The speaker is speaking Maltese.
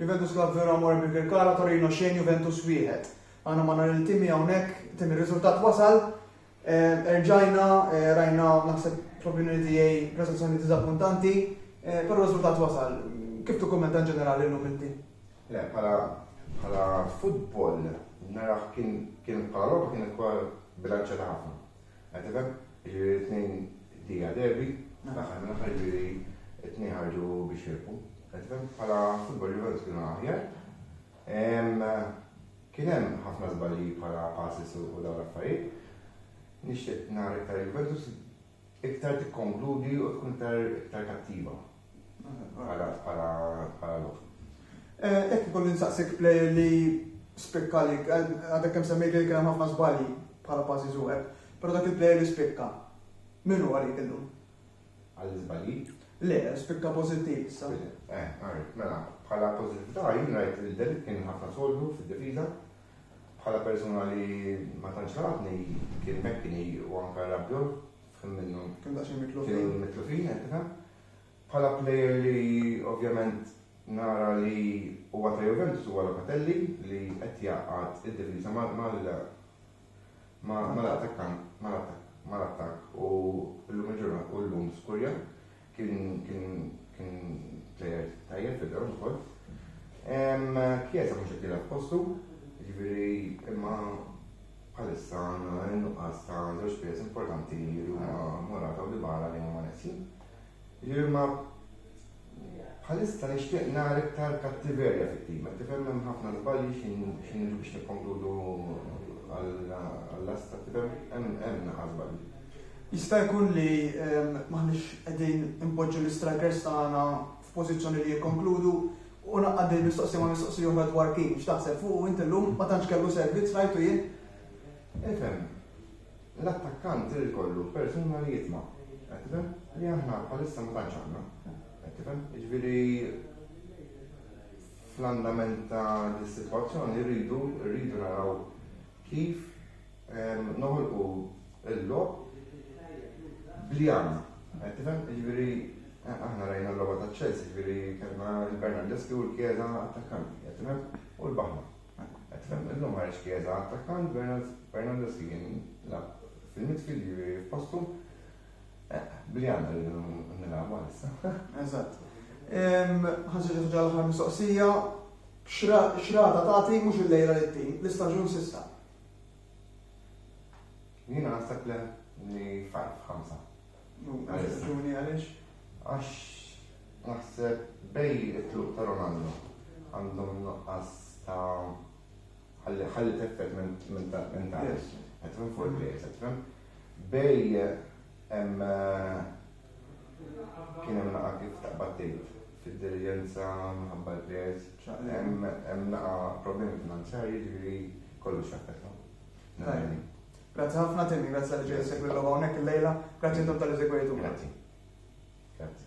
Juventus Club Verona Morbi Birkala Torino xejn Juventus wieħed. Aħna ma nhar il-timi hawnhekk tim ir-riżultat wasal. Eh, erġajna eh, rajna naħseb fl-opinjoni tiegħi prestazzjoni diżappuntanti, eh, però riżultat wasal. Kif tikkummenta ġenerali llum inti? Le, bħala bħala futbol naraħ kien kien bħala logħba kien ukoll bilanċjata ħafna. Qed tifhem? Jiġifieri t-tnejn dija derby, fl-aħħar mill-aħħar jiġifieri t-tnejn ħarġu biex rebħu. Qed tifhem? Bħala futbol Juventus kienu aħjar. Kien hemm ħafna żbalji bħala passes u dawn l-affarijiet. Nixtieq nara iktar Juventus iktar tikkonkludi u tkun iktar kattiva. Għala bħala bħala lok. Jekk ikun insaqsik plejer li spikka li għadek kemm semmejt li kien hemm ħafna żbalji bħala passi żugħeb, però dak il-plejer li spikka min hu għalik illum? Għall-iżbalji? Le, spikka pożittiv issa. Eh, għarif, mela, bħala pożittività jien rajt il-del kien ħafna soldu fid-difiża, bħala persuna li ma tantx ħalatni kien mekkini u anke rabjol Kemm minnhom. Kienu daqsxejn mitlufin. Kienu mitlufin qed nifhem. Bħala plejer li ovvjament nara li huwa ta' Juventus huwa Locatelli li qed jgħaqqad id-difiża mal mal-attakkant mal-attakk u llum il-ġurnata u llum skurja. Kien kien kien plejer tajjeb fil-ground ukoll. Kjesa mhux qed jilgħab postu, jiġifieri imma bħalissa għandna nuqqas ta' żewġ pjers importanti li huma Morata u Dybala li huma neqsi. Jiġifieri ma bħalissa nixtieq nara iktar kattiverja fit-tim, qed tifhem hemm ħafna żbalji x'inhi biex nikkonkludu għall-last qed tifhem hemm naħa żbalji. Jista' jkun li m'aħniex qegħdin inpoġġu l-istrikers tagħna f'pożizzjoni li jikkonkludu u ngħaqqad din il-mistoqsija ma' mistoqsija oħra dwar Keane. X'taħseb fuqu int illum? Ma tantx kellu servizz rajtu jien. Ifhem, l-attakkant irid ikollu persuna li jitma', qed tifhem? Li aħna bħalissa ma tantx għandna, qed tifhem? Jiġifieri fl-andament ta' dis-sitwazzjoni rridu rridu naraw Kif noħolqu l-logħob bl-jam. Qed tifhem? Jiġifieri aħna rajna l-logħba ta' Chelsea, jiġifieri kellna l-Bernardeschi u l-Chiesa attakkanti, qed tifhem? U l-baħna. Qed tifhem? Illum ħareġ Chiesa attakkant, Bernardeschi kien lab fil-midfield jiġifieri f'postu. Bl-jam rridu nilagħbu għalissa. Eżatt. Ħansiġu ħaġa l-aħħar mistoqsija. X'rata tagħti mhux illejla li ttin, l-istaġun s'issa? Jiena naħseb le li five, ħamsa. Raġuni għaliex? Għax naħseb bej it-tluq ta' Ronaldo għandhom nuqqas ta' ħalli ħalli teffet minn ta' minn ta' qed fuq il-plejers qed Bej hemm Kien hemm naqa' kif taqbad tgħid fid-diligenza minħabba l-pjez, hemm naqa' problemi finanzjarji ġifieri kollox jaffettwa. Grazzi ħafna Tim, grazzi li ġej segwi l-logħba hawnhekk il-lejla, grazzi intom tal-li segwejtu. Grazzi. Grazzi.